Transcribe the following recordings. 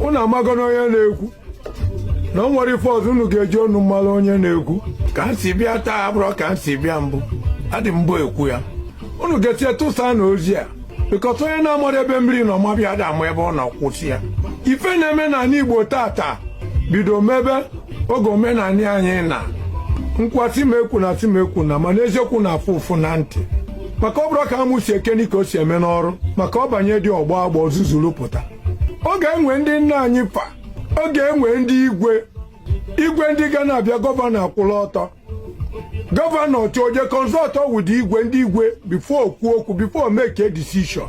unu amago na onye na-ekwu na o nwere ife ọzọ unu ga-eji ọnụ mmalụ onye na-ekwu ka m si bịa taa abụrọ ka m si bịa mbụ adị mbụ ekwu ya unu ga-eshea tụsa na ozi a because onye na-amarọ ebe mmiri nọ maba ya ada ama ebe ọ nọ kwụsị ya ife na-eme n'anị Igbo taataa bido mebe oge omenanị anyị naa m kwuo a sị m ekwuna sị m ekwuna mana eziokwu na-afụ ụfụ na ntị maka ọ bụrọ ka amụ si ekeni ka o si eme n'ọrụ maka ọ banye dị ọ gbọọ agbọ zuzuru pụta ọ ga-enwe ndị nna anyị fa ọ ga-enwe ndị igwe igwe ndị ga na-abịa gọvanọ akwụla ọtọ gọvanọ chọọ je kọnsọtọ wụdị igwe ndị igwe before o kwuo okwu before o make a decision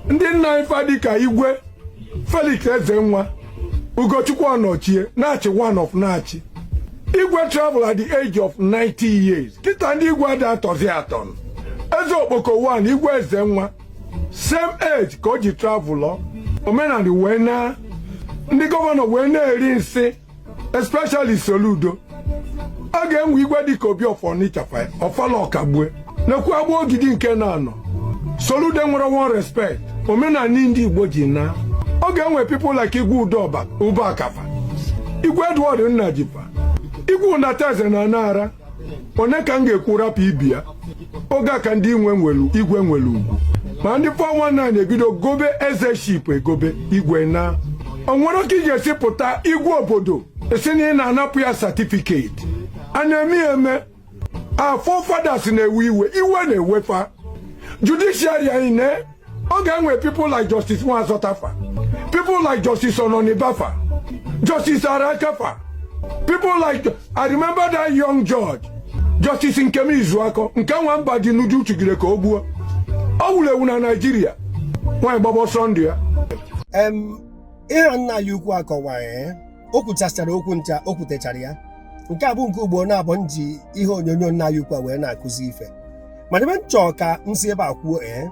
ndị nna anyị fa dịka igwe Felix Ezenwa Ugochukwu Ọnọchie Nachi one of Nachi igwe travel at the age of 90 years kịtaa ndị igwe adị atọzi atọ Eze Okpoko 1 igwe Ezenwa same age ka o ji travụlọ omenanị wee naa ndị gọvanọ wee na-eri nsị especially Soludo ọ ga-enwe igwe dịka Obi of Ọnịcha fa Ọfala Ọkagbue na-ekwu Agbogidi nke na-anọ Soludo enwerọ one respect omenanị ndị Igbo ji naa ọ ga-enwe people like igwe Udoba Ubaka fa igwe Edward Nnaji fa igwe Unataeze na Nara onye ka m ga-ekwu rapụ ibe ya oge a ka ndị igwe nwelu igwe nwere ugwu ma ndị 419 ebido gobe ezeship egobe igwe naa o nwerọ ka ị ga-esi pụta igwe obodo sị na ị na-anapụ ya satifiketi a na-eme ya eme our forefathers na-ewe iwe iwe na-ewe fa judiciary anyị naa ọ ga-enwe people like Justice Nwazota fa people like Justice Ononiba fa Justice Araka fa people like I remember that young judge Justice Nkem Izuako nke nwa Mbadinuju chụgide ka o gbuo o wuru ewu na Naịjirịa nwaanyị gbaba ọsọ ndụ ya Em, ihe a nna anyị ukwu akọwa ee o kwuchachara okwu ncha o kwutechara ya nke a bụ nke ugboro naabọ m ji ihe onyonyo nna anyị ukwu a wee na-akụzi ife mana ebe m chọọ ka m si ebe a kwuo ee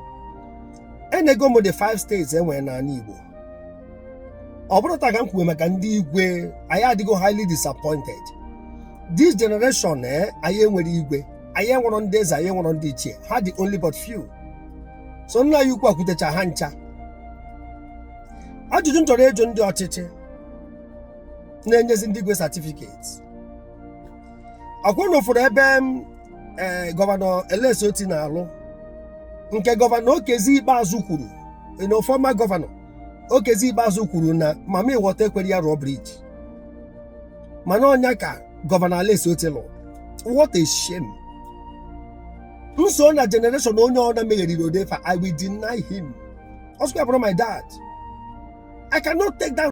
enego m the five states e nwere n'ala Igbo ọ bụrọ taa ka m kwuwe maka ndị igwe anyị adịgo highly disappointed this generation ee anyị enwerọ igwe anyị enwerọ ndị eze anyị enwerọ ndị ichie ha dị only but few so nna anyị ukwu a kwutecha ha ncha ajụjụ m chọrọ ịjụ ndị ọchịchị na-enyezi ndị igwe satifiketi ọ kwa unu fụrụ ebe m ee gọvanọ Alex Otti na-alụ nke gọvanọ Okezie Ikpeazụ kwuru na former gọvanọ Okezie Ikpeazụ kwuru na mammy water ekwerọ ya rụọ briji mana ọ nya ka gọvanọ Alex Otti lụ what a shame m so na generation onye ọ na megheriri odefa i will deny him ọsụkwa bụrụ my dad i cannot take that